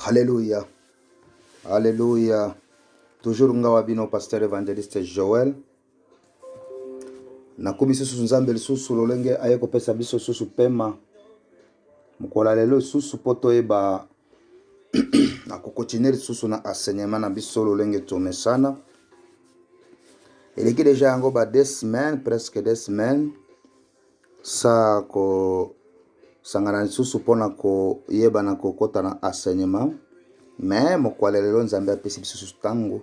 Alléluia. Alléluia. Toujours ngawa bino pasteur évangéliste Joël. Nakomi lisusu Nzambe lisusu lolenge aye kopesa biso susu pema. Mokola lelo lisusu mpo toyeba na kokontinue lisusu na enseignement na biso lolenge tomesana. Eleki deja yango ba deux semaines, presque deux semaines. Sa kosangana lisusu mpo na koyeba na kokota na enseignement me mokwa lelo lelo nzambe apesi biso susu ntango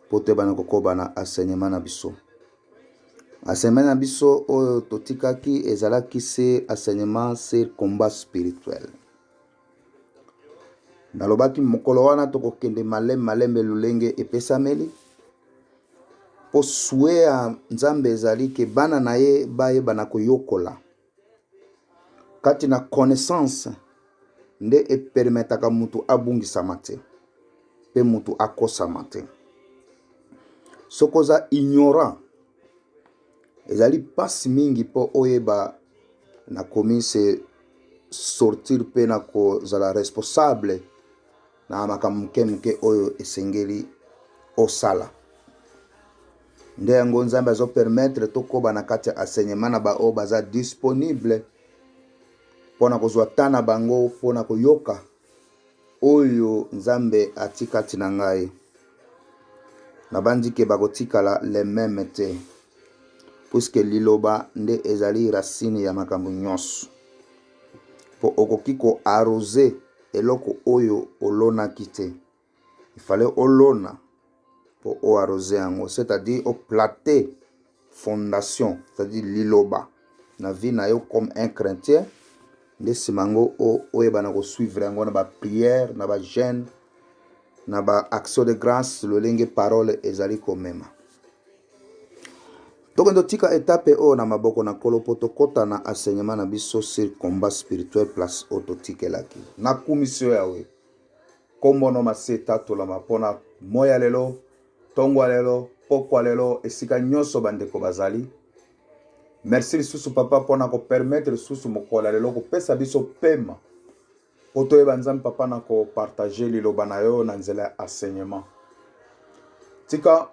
mpo toyeba na kokoba na enseignement na biso enseignement na biso oyo totikaki ezalaki se enseignement sur combat spirituel Nalobaki mokolo wana tokokende malembe malembe lolenge epesameli mpo sue ya Nzambe ezali ke bana na ye bayebana koyokola kati na connaissance nde epermetaka moto abungisama te mpe moto akosama te soki oza ignorant ezali mpasi mingi mpo oyeba na komise sortir mpe na kozala responsable na makambo moke moke oyo esengeli osala nde yango nzambe azopermetre tokoba na kati ya enseignement na baoyo baza disponible mpo na kozwa ta na bango mpo na koyoka Oyo nzambe ati kati na ngai nabanzi ke bakotikala le meme te puiske liloba nde ezali racine ya makambo nyonso mpo okoki koarose eloko oyo olonaki te il fallait olona mpo o arrose yango c'est-à-dire oplate fondation c'est-à-dire liloba na vie na yo comme un chrétien nde nsima yango oyebana kosuivre yango na baprière na bajeune na baaction de grâce lolenge parole ezali komema tokende otika etape oyo na maboko na nkolo mpo tokɔta na enseignement na biso sur combat spirituel place oyo totikelaki nakumisi yo yawe Nkombo no masi etatolama mpo na moi ya lelo, ntongo ya lelo, pokwa lelo, esika nyonso bandeko bazali. Merci lisusu papa mpo na kopermettre lisusu mokolo ya lelo kopesa biso pema mpo toyeba nzambe papa na kopartage liloba na yo na nzela ya enseignement tika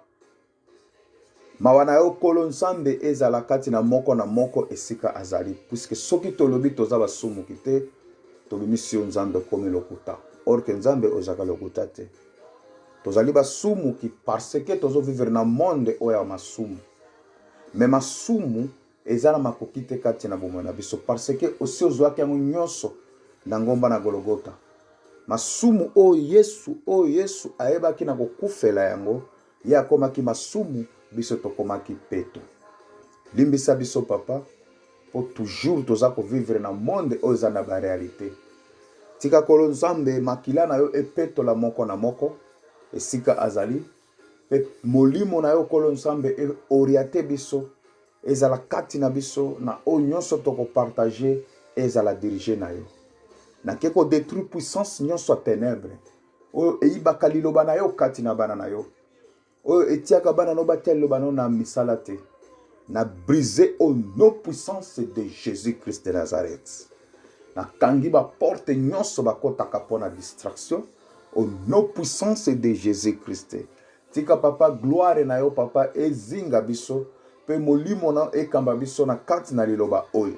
Mawa na yo Nkolo Nzambe ezala kati na moko na moko esika azali, puisque soki tolobi toza basumuki te, tobimisi yo Nzambe okomi lokuta. Or que Nzambe ozalaka lokuta te. Tozali basumuki parce que tozo vivre na monde oyo ya masumu. Mais masumu eza na makoki te kati na bomoi na biso parce que osi ozwaki yango nyonso na ngomba na Golgotha. Masumu oyo Yesu oyo Yesu ayebaki na kokufela yango Ye akomaki masumu, biso tokomaki peto. Limbisa biso papa, po toujours toza ko vivre na monde oyo eza na ba realite. Tika kolo Nzambe makila na yo epetola moko na moko esika azali pe molimo na yo kolo Nzambe e oriate biso ezala kati na biso na oyo nyonso toko partager ezala dirige na yo. Nake ko detruire puissance nyonso ya tenebre oyo eyibaka liloba na yo kati na bana na yo oyo etiaka bana no batya liloba na yo na misala te na brise au nom puissance de jésus christ de nazareth nakangi baporte nyonso bakotaka mpo na distraction au nom puissance de jésus christ tika papa gloire na yo papa ezinga biso mpe molimo na ekamba biso na kati na liloba oyo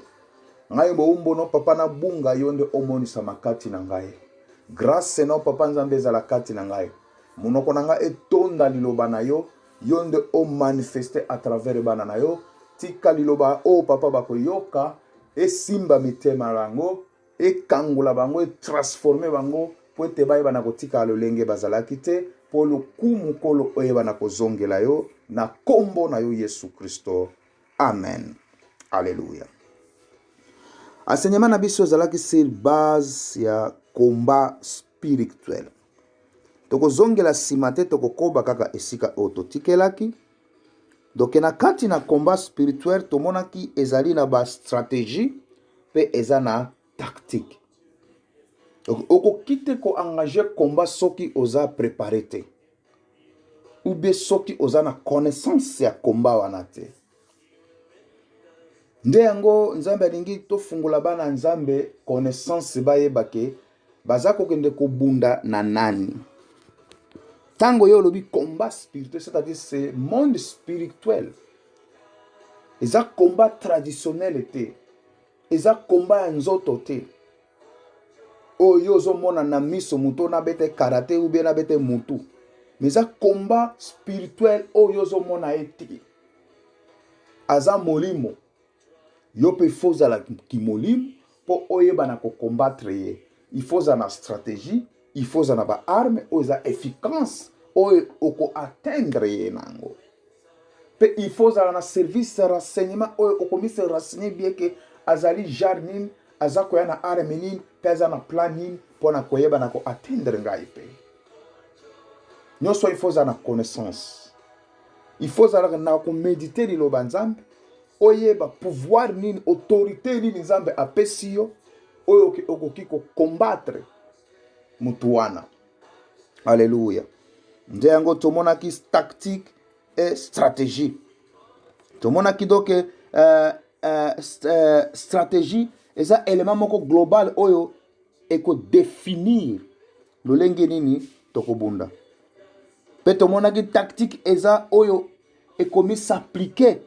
ngai bowumbu no papa nabunga yo nde omonisama kati na ngai Grace na yo papa Nzambe ezala kati na ngai. Monoko na ngai etonda liloba na yo, yo nde o manifeste à travers bana na yo. Tika liloba oyo papa bakoyoka esimba mitema yango, ekangola bango, etransforme bango mpo ete bayeba na kotikala lolenge bazalaki te, mpo lokumu nkolo oyeba na kozongela yo na nkombo na yo Yesu Kristo. Amen. Alleluia. Enseignement na biso ezalaki sur base ya combat spirituel. Tokozongela nsima te, tokokoba kaka esika oyo totikelaki. Donc na kati na combat spirituel tomonaki ezali na ba stratégie mpe eza na tactique. Donc okoki te ko engage combat soki oza prepare te. ou bien soki oza na connaissance ya komba wana te nde yango nzambe alingi tofungola bana nzambe connaissance bayeba ke baza kokende kobunda na nani ntango yo olobi combat spirituel c'est-à-dire ce monde spirituel eza combat traditionnel te eza komba ya nzoto te oyo yo ozomona na miso motu ona bete karate ou bien na bete motu mais eza komba spirituel oyo ozomona ye te aza molimo yo mpe fo ozala kimolimo mpo oyeba na kokombatre ye il faut ozala na stratégie il faut ozala na ba arme oyo eza efficace oyo oko atteindre ye na yango mpe il faut ozala na service ya renseignement oyo okomisi renseigner bien ke azali genre nini aza koya na arme nini mpe aza na plan nini mpo na koyeba na ko atteindre ngai mpe nyonso il faut ozala na connaissance il faut ozalaka na komedite liloba nzambe oyeba pouvoir nini autorité nini nzambe apesi yo oyo okoki kokombatre motu wana alleluya nde yango tomonaki tactique e stratégie tomonaki doke uh, uh, uh, stratégie eza élément moko global oyo ekodefinir lolenge nini tokobunda mpe tomonaki tactique eza oyo ekomi s'appliquer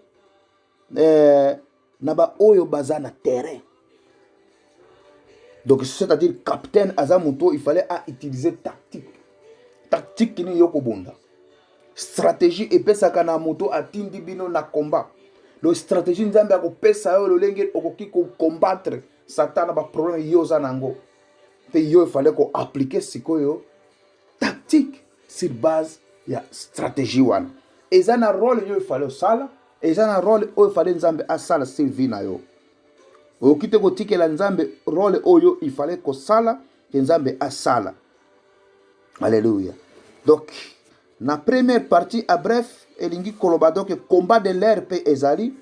eh, na baoyo baza na terrain donc c'est-à-dire capitaine aza moto il fallait a utiliser tactique tactique nini yo kobunda stratégie epesaka na moto atindi bino na combat donc stratégie nzambe akopesa yo lolenge okoki kocombattre satana baproblème yo oza na yango mpe yo efale ko appliquer sikoyo tactique sur base ya stratégie wana eza na role yo efale osala eza na role oyo efale nzambe asala se vi na yo okoki te kotikela nzambe role oyo ifale kosala ke nzambe asala alleluya donc na première partie a bref elingi koloba donc combat de l'air mpe ezali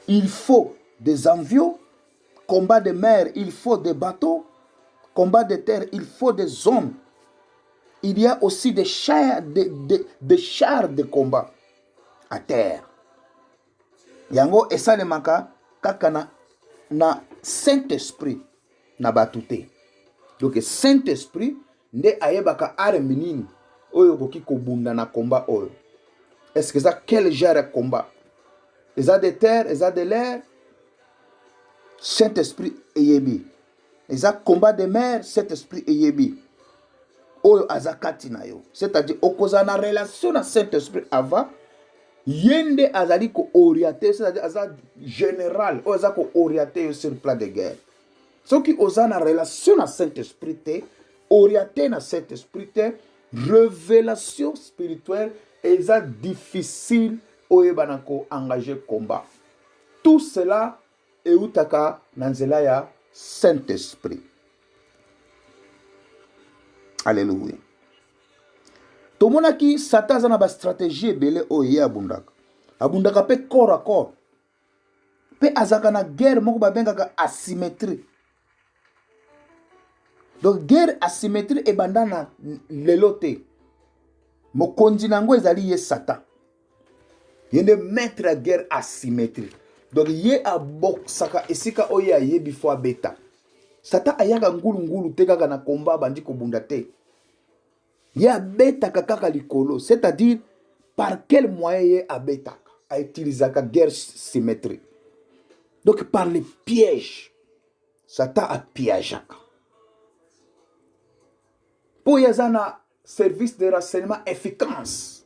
il faut des envieux Combat de mer, il faut des bateaux. Combat de terre, il faut des hommes. Il y a aussi des chars de, de, de, chars de combat à terre. Yango esalemaka kaka na, na Saint-Esprit na bato te. Donc Saint-Esprit nde ayebaka arme nini oyo okoki kobunda na combat oyo est ce que eza quel genre ya combat eza de terre eza de l'air saint esprit eyebi eza combat de mer saint esprit eyebi oyo aza kati na yo c'est-à-dire okozala na relation na saint esprit avant ye nde azali kooriente c'est-à-dire aza général oyo aza kooriente yo sur plan de guerre soki oza na relation na saint esprit te oriente na saint esprit te révélation spirituelle eza difficile oyebana koengage combat tout cela eutaka na nzela ya saint esprit alleluia tomonaki satan aza na bastratégie ebele oyo ye abundaka abundaka mpe corps à corps mpe azalaka na guerre moko babengaka asymétrie donc guerre asymétrie ebanda na lelo te mokonzi na yango ezali ye satan ye nde maître ya guerre asymétrie donc ye abokisaka esika oyo ye ayebi fo abeta satan ayaka ngulungulu te kaka na komba abandi kobunda te ye abetaka kaka likolo c'est à dire par quel moyen ye abetaka autilisaka guerre symétrie donc par le piège satan apiageaka mpo ye aza na service de renseignement efficace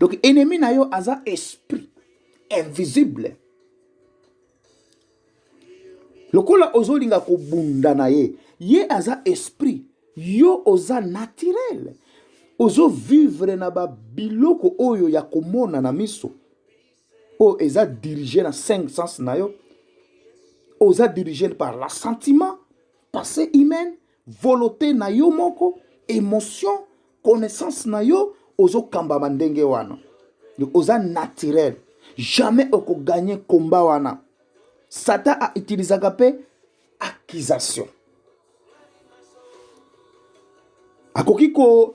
donc ennemi na yo aza esprit invisible lokola ozolinga kobunda na ye ye aza esprit yo oza naturel ozovivre na babiloko oyo ya komona na miso oyo eza dirige na 5 sens na yo oza dirige par la sentiment passé humaine volote na yo moko emotion connaissance na yo ozokambama ndenge wana oza naturel jamais okoganye komba wana satan autilisaka mpe accusation akoki ko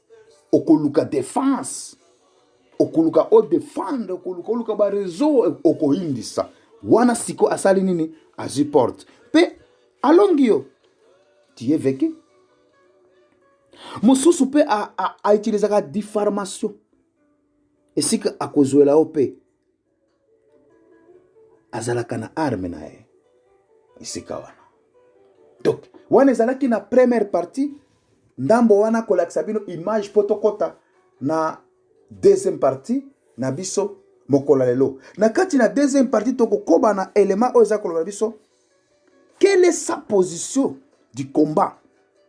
okoluka defense okoluka o defendre okoluka oluka ba réseau e, okoyindisa wana siko asali nini azwi porte mpe alongi yo tiye veki mosusu mpe autilisaka diffarmation esika akozwela yo mpe azalaka na arme na ye esika wana donc wana ezalaki na première partie ndambo wana kolakisa bino image mpo tokɔta na deuxième partie na biso mokolo ya lelo na kati na deuxième partie tokokoba na element oyo eza koloba na biso quelle est sa position du combat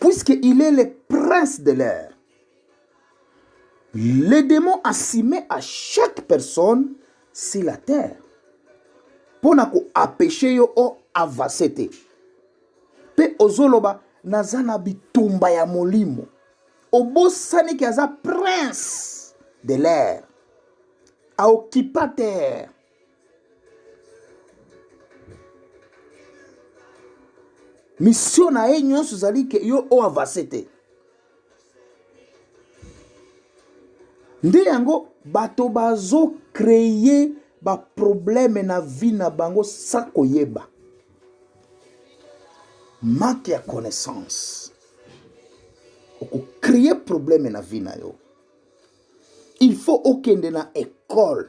Puisque il est le prince de l'air. Les démons assimés à chaque personne sur la terre. Pour na ko apêcher yo o avancer te. Pe ozoloba naza na bitumba ya molimo. Obosani ki aza prince de l'air. A occupa terre. misio na ye nyonso ezali ke yo oyo avase te nde yango bato bazokreye baprobleme na vie na bango sa koyeba manque ya connaissance okokreye probleme na vie na yo il faut okende na ekole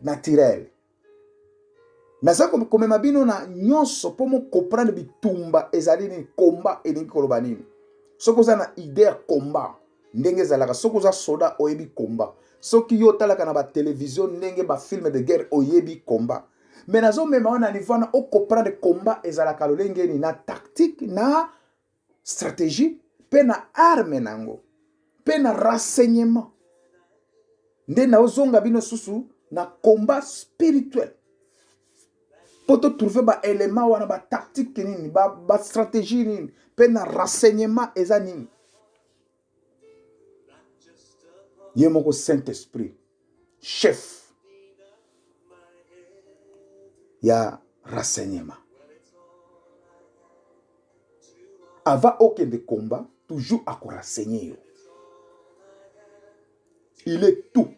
naturel naza komema bino na nyonso mpo mokomprendre bitumba ezali nini komba elingi koloba nini soki oza na ide ya komba ndenge ezalaka soki oza soda oyebi komba soki yo otalaka na batelevizio ndenge bafilme de guerre oyebi komba me nazomema wana nivo wana okomprendre komba ezalaka lolenge nini na tactique na strategie mpe na arme na yango mpe na renseignement nde naozonga bino susu na combat spirituel mpo totrouve baelema wana batactique nini bastratégie ba nini mpe na renseignement eza nini ye moko saint esprit chef ya renseignement avant okende combat toujours akorenseigne yo il est tout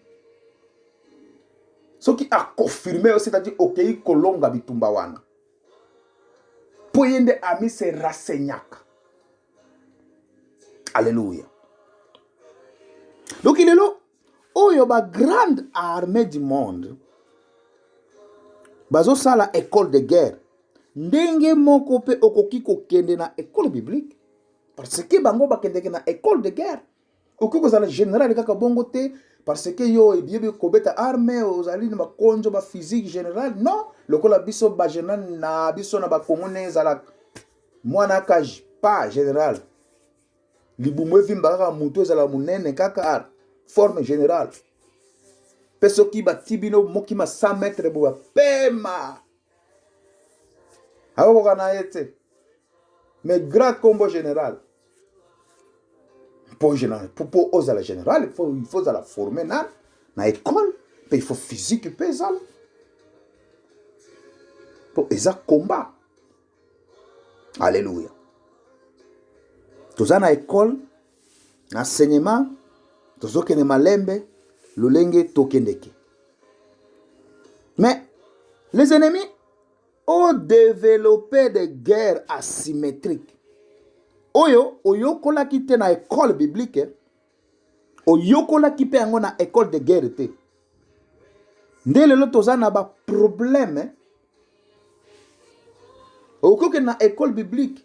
soki akonfirme yo c'est-à-dire okei okay, kolonga bitumba wana mpo ye nde ami se rensegnaka Alléluia. Donc il est là. Oh, il y a une grande armée du monde. Bazo sala école de guerre. Ndenge moko pe okoki kokende na école biblique. Parce que bango bakendeke na école de guerre. okoki kozala general kaka bongo te parce que yo ebiyebi kobeta arme ozali na bakonzo ba physique general non lokola biso bageneral na biso na bakongo ndenge ezalaka mwana akaji pa general libumu evimba kaka motu ezala monene kaka forme generale mpe soki bati bino mokima 100 mètre boya pema akokoka na ye te mais grand combo général mpo général mpo ozala général il faut ozala forme na na école mpe il faut physique mpe ezala mpo eza combat alleluya toza na école na sinema tozokende malembe lolenge tokendeke mais les ennemis ont développé des guerres asymétriques oyo oyokolaki te na école biblique eh? oyokolaki mpe yango na école de guerre te nde lelo toza na baproblème eh? okokende na école biblique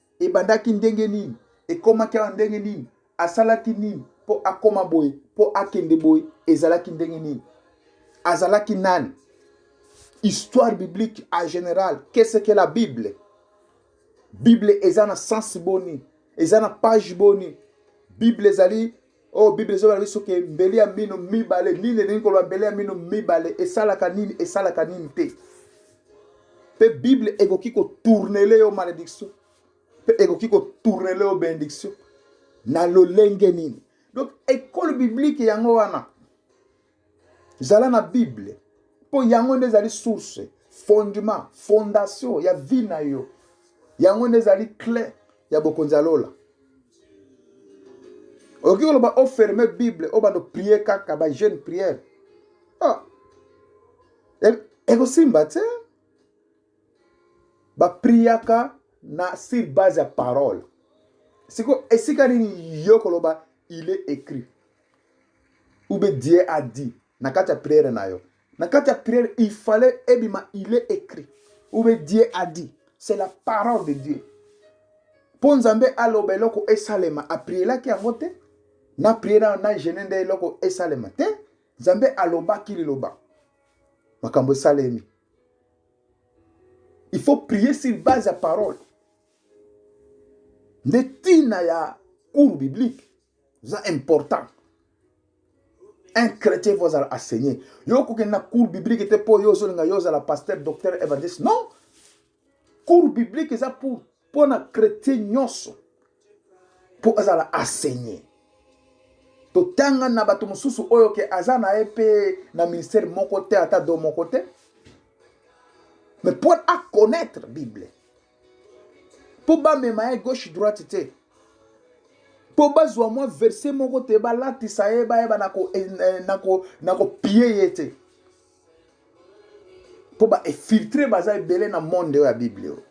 ebandaki ndenge nini ekomaki awa ndenge nini asalaki nini mpo akoma boye mpo akende boye ezalaki ndenge nini azalaki nani histoire biblique en général qu'est-ce que la bible bible eza na sens boni eza na page boni bible ezali oyo oh, bible ezobela biso ke mbeli ya mino mibale nini elingi koloba mbeli ya mino mibale esalaka nini esalaka nini te mpe bible ekoki kotournele yo malédiction mpe ekoki kotournele yo benediction na lolenge nini donc ekole biblike yango wana zala na bible mpo yango nde ezali source fondement fondation ya vie na yo yango nde ezali cle ya bokonzi ya lola okoki koloba oferme bible obanda oprie kaka bajeune priere ah. E-, ekosimba te bapriaka na sur base ya parole siko esika nini yo koloba il est écrit ube dieu a dit na kati ya priere na yo na kati ya priere il fallait ebima il est écrit ube dieu a dit c'est la parole de dieu mpo nzambe aloba eloko esalema aprielaki yango te na priere na gene nde eloko esalema te nzambe alobaki liloba makambo esalemi il faut prier sur base ya parole nde ntina ya cours biblique eza important un chrétien faut azala enseigné yo okokende na cours biblique te mpo yo ozolinga yo ozala pasteur docteur evangeliste non cours biblique eza pour mpo na chrétien nyonso mpo azala enseigné totanga na bato mosusu oyo ke aza na ye mpe na ministère moko te ata do moko te mais mpo aconnaître bible mpo bamema ye gauche droite te mpo bazwa mwa verse moko te balatisa ye bayeba na eh, kopie eh, ye te mpo baefiltre baza ebele na monde oyo ya bible oyo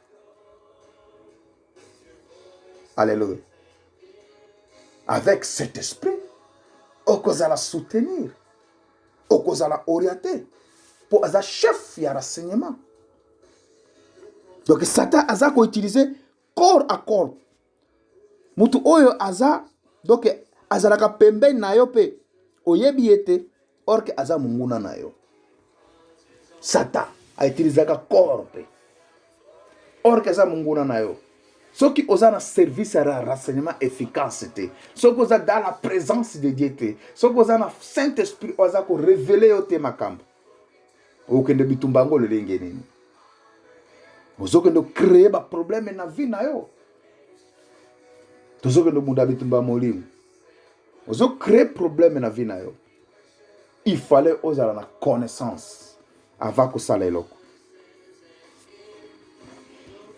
alleluia avec cet esprit okozala soutenir okozala oriente mpo aza chef ya renseignement donc satan aza koutilize corps à corps motu oyo aza donc azalaka pembeni na yo mpe oyebi ye te orke aza monguna na yo satan aitilizaka corps mpe orke aza monguna na yo soki oza na service ya renseignement efficace te soki oza dans la présence de dieu te soki oza na saint esprit oyo aza korevele yo te makambo okende bitumba yango lolenge nini ozokende okreye baprobleme na vie na yo tozokende obunda bitumba ya molimo ozokreye probleme na vie na yo il fallait ozala na connaissance avant kosala eloko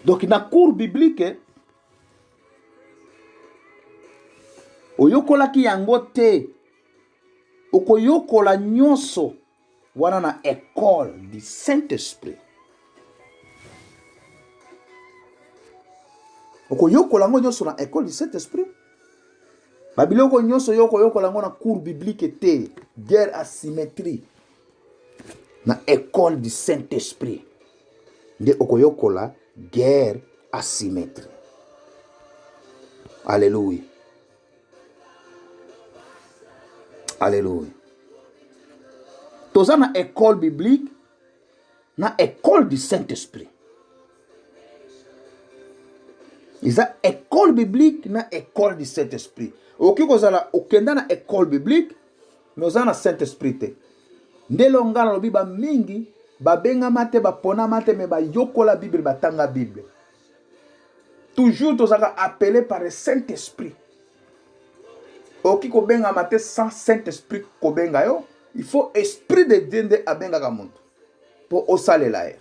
donc na cours biblique oyokolaki yango te okoyokola nyonso wana na ecole du Saint-Esprit. okoyokola yango nyonso na ecole du Saint-Esprit. babiloko nyonso yo okoyokola yango na cours biblique te guerre asymétrie na ecole du saint-esprit nde okoyokola guerre asymétrie alleluia Alléluia. Toza na école biblique, na école du Saint-Esprit. eza école biblique na école du saint esprit okoki kozala okenda na école biblique mais oza na saint esprit te nde elongo ngai nalobi bamingi babengama te baponama te me bayokola bible batanga bible toujours tozalaka appelé par le saint esprit okoki kobengama te sans saint esprit kobenga yo il faut esprit de dieu nde abengaka moto mpo osalela ye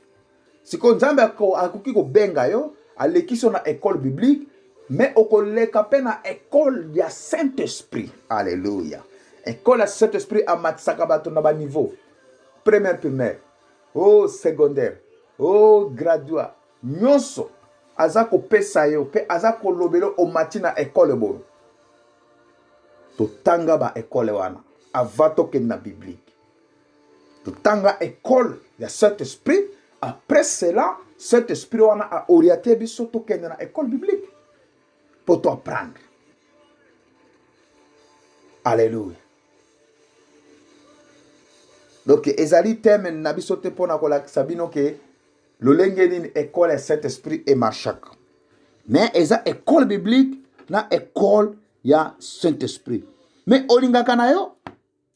sikoyo nzambe akoki kobenga yo alekisi yo na école biblique mais okoleka mpe na école ya saint esprit alleluya école ya saint esprit amatisaka bato na baniveau première primaire o oh, secondaire o oh, gradua Nyonso aza kopesa yo mpe aza kolobela omati na ekole boye totanga ba ekole wana ava tokende na biblike totanga ekole ya saint esprit après cela saint esprit wana aoriente biso tokende na ekole biblike mpo to apprendre alleluya donc ezali teme na biso te mpo na kolakisa bino ke lolenge nini ekole ya saint esprit emarchaka me eza ekole biblique na ekole ya saint esprit me olingaka na yo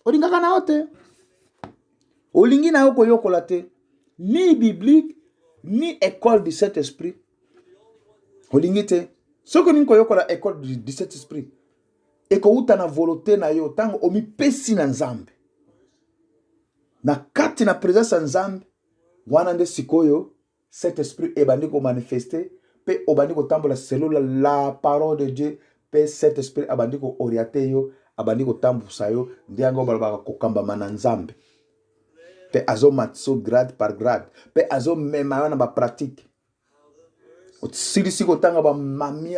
olingaka na yo te olingi na yo koyokola te ni biblique ni école du saint esprit olingi te soki olingi koyokola école du saint esprit ekowuta na volonté na yo ntango omipesi na nzambe na kati na presence ya nzambe wana nde sikoyo cet esprit ebandi ko manifester pe obandi kotambola selon la parole de Dieu pe cet esprit abandi ko orienter yo abandi kotambusa yo nde yango balobaka kokambama na Nzambe pe azomatisa grade par grade pe azomema yo na ba pratique osilisi kotanga bamami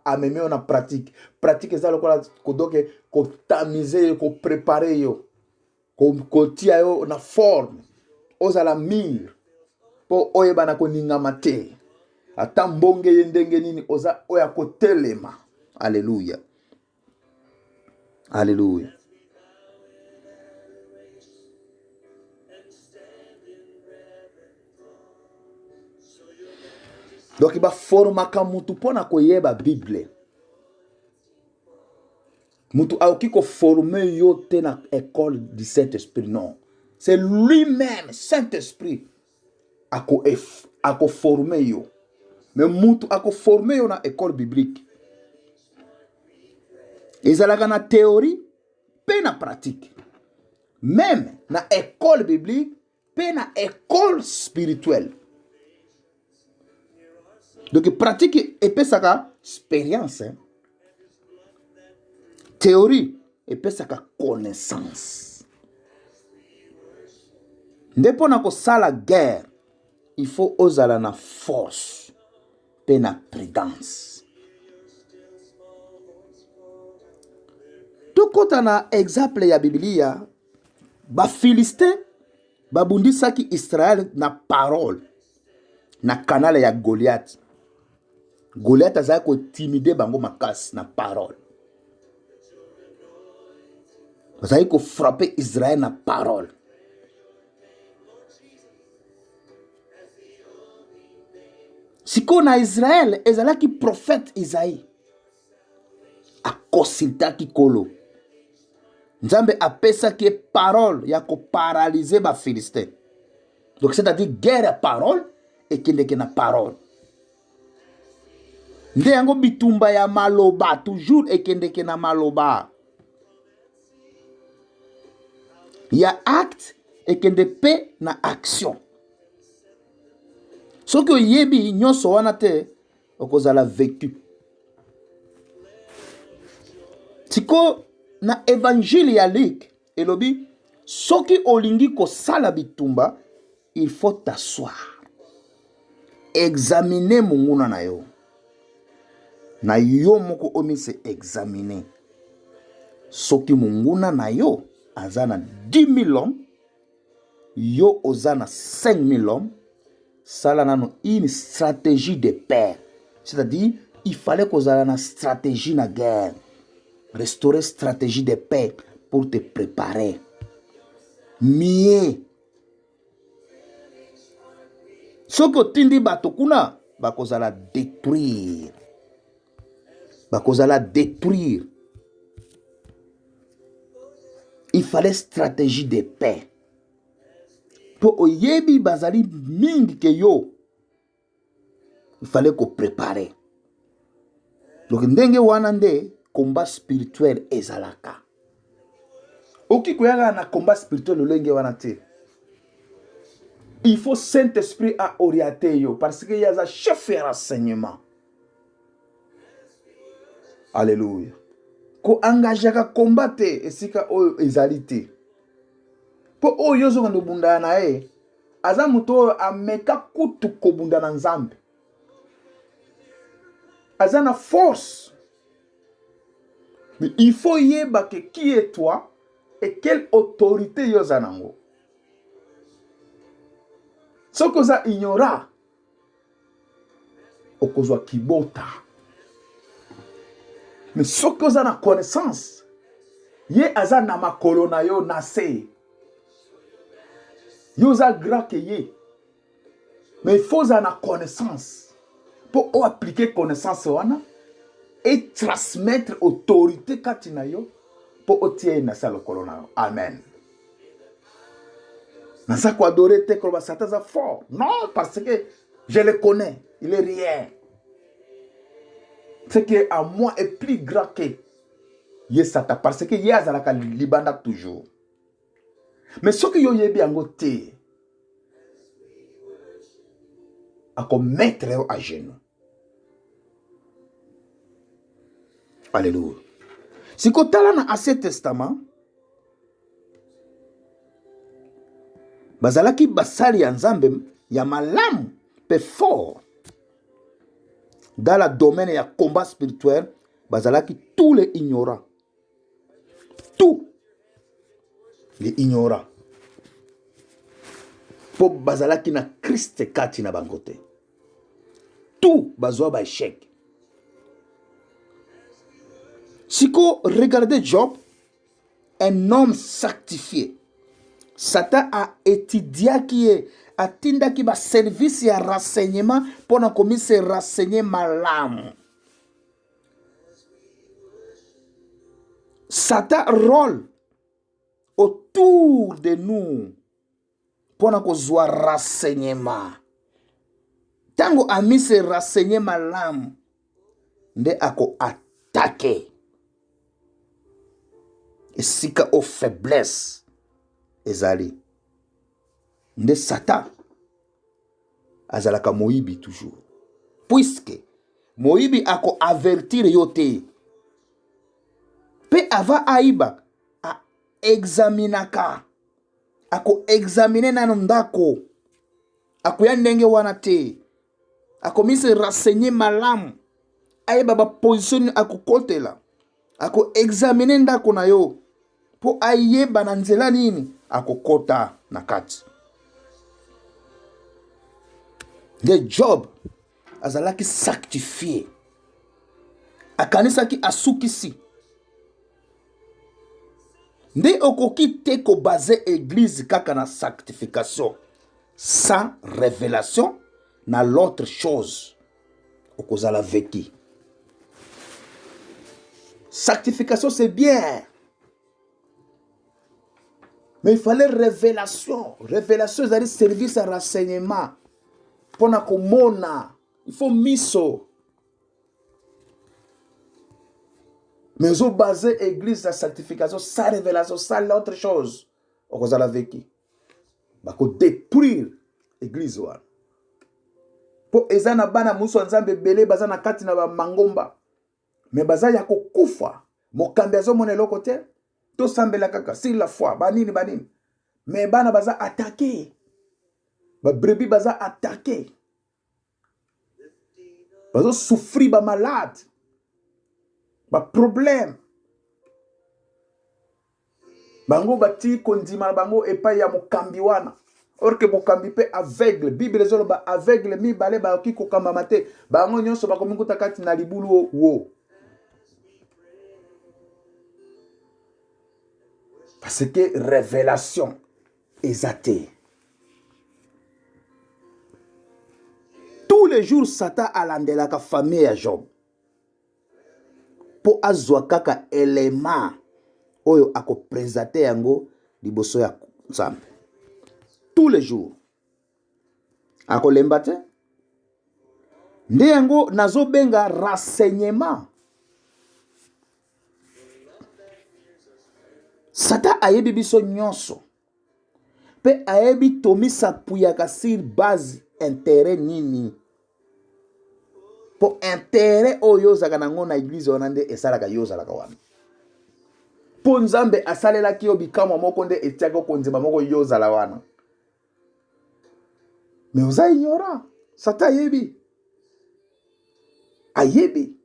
amemi yo na pratique pratique eza lokola kodoke kotamize yo koprepare yo kotia yo na forme ozala mire mpo oyebana koningama te ata mbonge ye ndenge nini oza oyo akotelema aleluya Alléluia. Donc baformaka mutu mpo na koyeba bible mutu akoki koforme yo te na école du saint esprit non c'est lui-même saint esprit akoforme ako yo me mutu akoforme yo na ekole biblique ezalaka na theorie mpe na pratique meme na ekole biblique mpe na ekole spirituelle donc pratique epesaka experience hein? Theorie epesaka connaissance. Nde mpo na kosala guerre, il faut ozala na force mpe na prudence. Tokota na exemple ya Biblia, Bafilistin babundisaki Israel na parole na kanala ya Goliath. Goliath azalaki kotimide bango makasi na parole. Azalaki kofrape Israel na parole. sikoyo na israele ezalaki profete izai akosiltaki kolo nzambe apesaki ye parole ya koparalyze bafilistin donc c'est-à-dire guerre ya parole ekendeke na parole nde yango bitumba ya maloba toujours ekendeke na maloba ya acte ekende mpe na action soki oyebi nyonso wana te okozala vecu sikoyo na evangile ya luk elobi soki olingi kosala bitumba il faut t'asseoir examine monguna na yo na yo moko omise examine soki monguna na yo aza na 10 000 hommes yo oza na 5000 hommes sala nano une stratégie de paix c'est-à-dire il fallait kozala na stratégie na guerre restaurer stratégie de paix pour te préparer mieux soki otindi bato kuna bakozala détruire bakozala détruire il fallait stratégie de paix mpo oyebi bazali mingi ke yo il fallait koprepare donc ndenge wana nde combat spirituel ezalaka okoki koyaka na combat spirituel lolenge wana te il faut saint esprit aoriente yo parce que ye aza chef ya renseignement alleluya koengagaka komba te esika oyo ezali te mpo oyo ozokende obundana na ye aza moto oyo ameka kutu kobunda na nzambe aza na force mais il faut yeba ke qui est toi et quelle autorité yo oza nango soki oza ignora okozwa kibota me soki oza na connaissance ye aza na makolo na yo na se yo oza grand ke ye mais il faut ozala na connaissance mpo oaplike connaissance wana etransmettre autorité kati na yo mpo otia ye na se ya lokolo na yo amen naza koadore te koloba satan aza fort non parce que je le connais il est rien ce qui est à moi est plus grand que ye satan parce que ye azalaka libanda toujours mais soki yo oyebi yango te akomettre yo à genoux Alléluia. Si tala na Ancien Testament, bazalaki basali ya Nzambe ya malamu pe fort dans la domaine ya combat spirituel bazalaki tous les ignorants tout les ignorants po bazalaki na Christ kati na bango te tout bazwa ba échec siko regardez job un homme sanctifié satan aetidiaki ye atindaki baservice ya renseignement mpo na komise renseigner malamu satan role autour de nous mpo na kozwa renseignement ntango amise renseigner malamu nde akoatake esika o faiblesse ezali nde satan azalaka moyibi toujours puiske moyibi akoavertire yo te mpe ava ayiba aexaminaka akoexamine nano ndako akoya ndenge wana te akomisi renseigner malamu ayeba baposition nini akokotela akoexamine ndako na yo mpo ayeba na nzela nini akokota na kati nde job azalaki sanctifie akanisaki asukisi nde okoki te kobase eglise kaka na sanctification sans révélation na l'autre chose okozala veki sanctification c'est bien mais il fallait révélation révélation ezali service ya renseignement mpo na komona il faut miso mais ozo base église na sanctification sa révélation sale na autre chose okozala veki bakodétruire église wana mpo eza na bana mosusu ya nzambe ebele baza na kati na bamangomba me baza ya kokufa mokambi azomona eloko te tosambela kaka sur la foi banini banini me bana baza atake babrebi baza atake bazo souffrir ba malade ba problème bango batiki kondima na bango epai ya mokambi wana or ke mokambi mpe aveugle bible ezoloba aveugle mibale bakoki kokambama te bango nyonso bakomikuta kati na libulu wo parce que révélation eza te tous les jours satan alandelaka famille ya job mpo azwa kaka elema oyo akopresente yango liboso ya nzambe tous les jours akolemba te nde yango nazobenga renseignement satan ayebi biso nyonso mpe ayebi tomisapuyaka sur base interet nini mpo interet oyo ozalaka nango na eglize wana nde esalaka yo ozalaka wana mpo nzambe asalelaki yo bikamwa moko nde etiaki okonzema moko yo ozala wana mais oza ignorant sata ayebi ayebi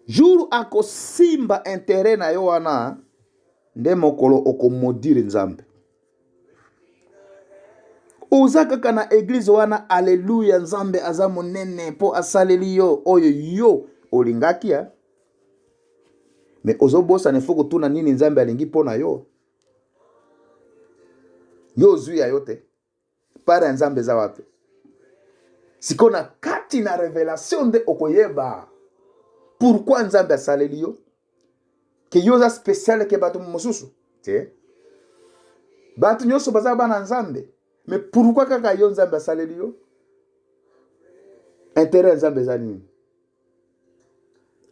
jour akosimba interet na yo wana nde mokolo okomodire nzambe oza kaka na eglize wana aleluya nzambe aza monene mpo asaleli yo oyo yo olingaki ya me ozobosana efo kotuna nini nzambe alingi mpo na yo yo ozwi ya yo te part ya nzambe eza wapi sikoyo na kati na revelation nde okoyeba pourkui nzambe asaleli yo ke yo oza speciale ke bato mosusu te bato nyonso baza bana nzambe me pourkui kaka yo nzambe asaleli yo intere ya nzambe eza nini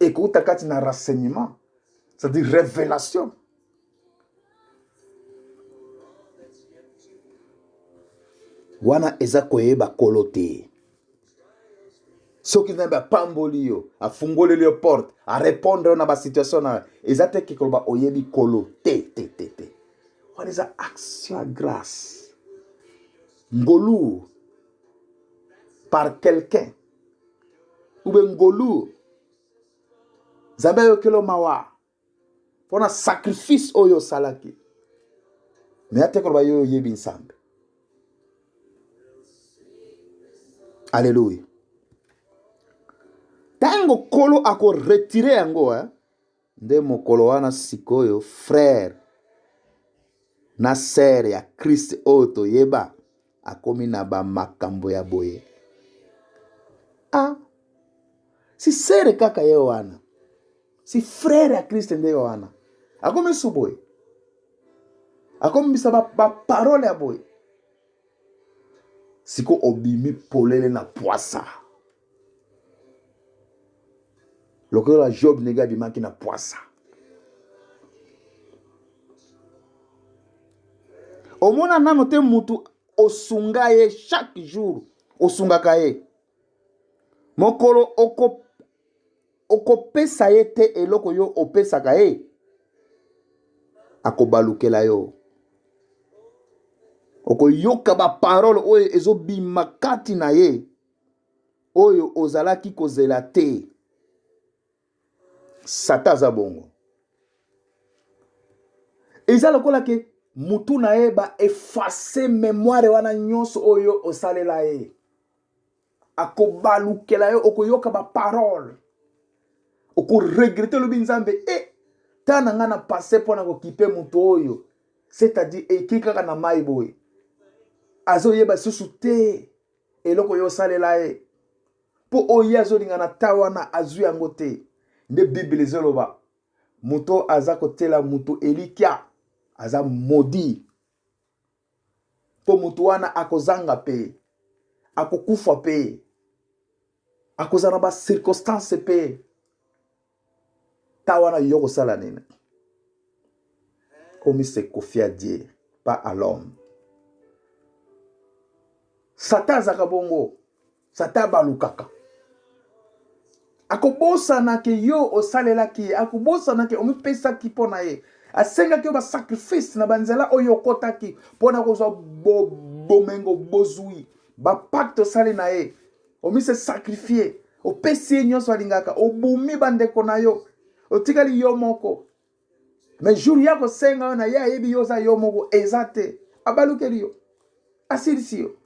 ekouta kati na renseignement c'est-à-dire révélation wana eza koyeba kolo te soki nzambe apamboli yo afungoleli yo porte arépondre yo na basituation na eza te ke koloba oyebi kolo te te te te wana eza action ya grâce ngolu par quelqu'un ube ngolu nzambe ayokelo mawa mpo na sacrifice oyo osalaki me ate koloba yo oyebi nzambe aleluya ntango nkolo akoretire yango eh? nde mokolo wana sikoyo frere na sere ya krist oyo toyeba akomi na bamakambo ya boye a ah, si sere kaka ye wana si frere ya krist nde wana akomi su boye akomibisa baparole ya boye siko obimi polele na pwasa lokola job ndenge abimaki na pwasa omona nano te mutu osunga ye chaque jour osungaka ye mokolo okopesa oko ye te eloko yo opesaka ye akobalukela yo okoyoka baparole oyo ezobima kati na ye oyo ozalaki kozela te sata aza bongo eza lokola ke mutu na ye baefase memoire wana nyonso oyo osalela ye akobalukela yo okoyoka baparole okoregrete olobi nzambe e eh, ntan na ngai na pase mpo na kokipe moto oyo c'est-à-dire eki kaka na mai boye azoyeba lisusu te eloko yo osalela ye mpo oyo ye azolinga na ta wana azwi yango te nde biblia ezoloba moto aza kotyela moto elikya aza modi mpo moto wana akozanga mpe akokufa mpe akozala na bacirconstance mpe ta wana yo kosala nini omise kofia die pas à l'homme satan azaka bongo satan abalukaka akobosana ke yo osalelaki ye akobosana ke omipesaki mpo na ye asengaki yo basacrifice na banzela oyo okotaki mpo na kozwa bomengo bozwi bapakte osali na ye omise sacrifie opesi ye nyonso alingaka obomi bandeko na yo otikali yo moko me jour ya kosenga yo na ye ayebi yo oza yo moko eza te abalukeli yo asilisi yo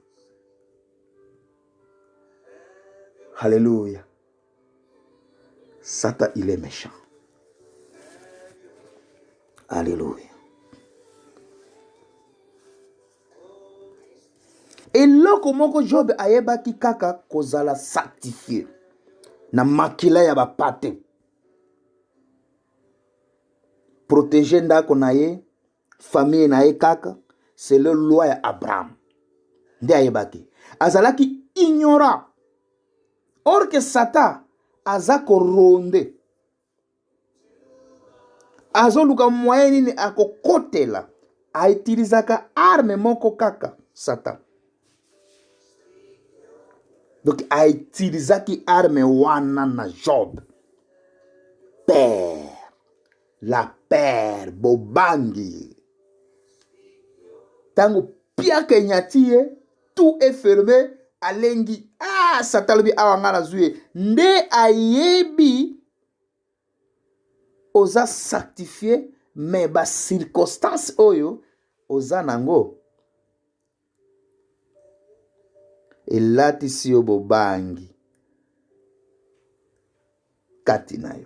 halleluya satan il est méchant halleluya eloko moko jobe ayebaki kaka kozala sanctifie na makila ya bapate protege ndako na ye famille na ye kaka selo loi ya abraham nde ayebaki azalaki ignorant orke satan aza koronde azoluka moyen nini akokotela autilisaka arme moko kaka satan donc autilisaki arme wana na job père la père bobangi ntango piaka enyati ye tout est ferme alengi ah satan alobi awa ngai nazwi ye nde ayebi oza sanctifie me bacirconstance oyo oza nango elatisi yo bobangi kati na yo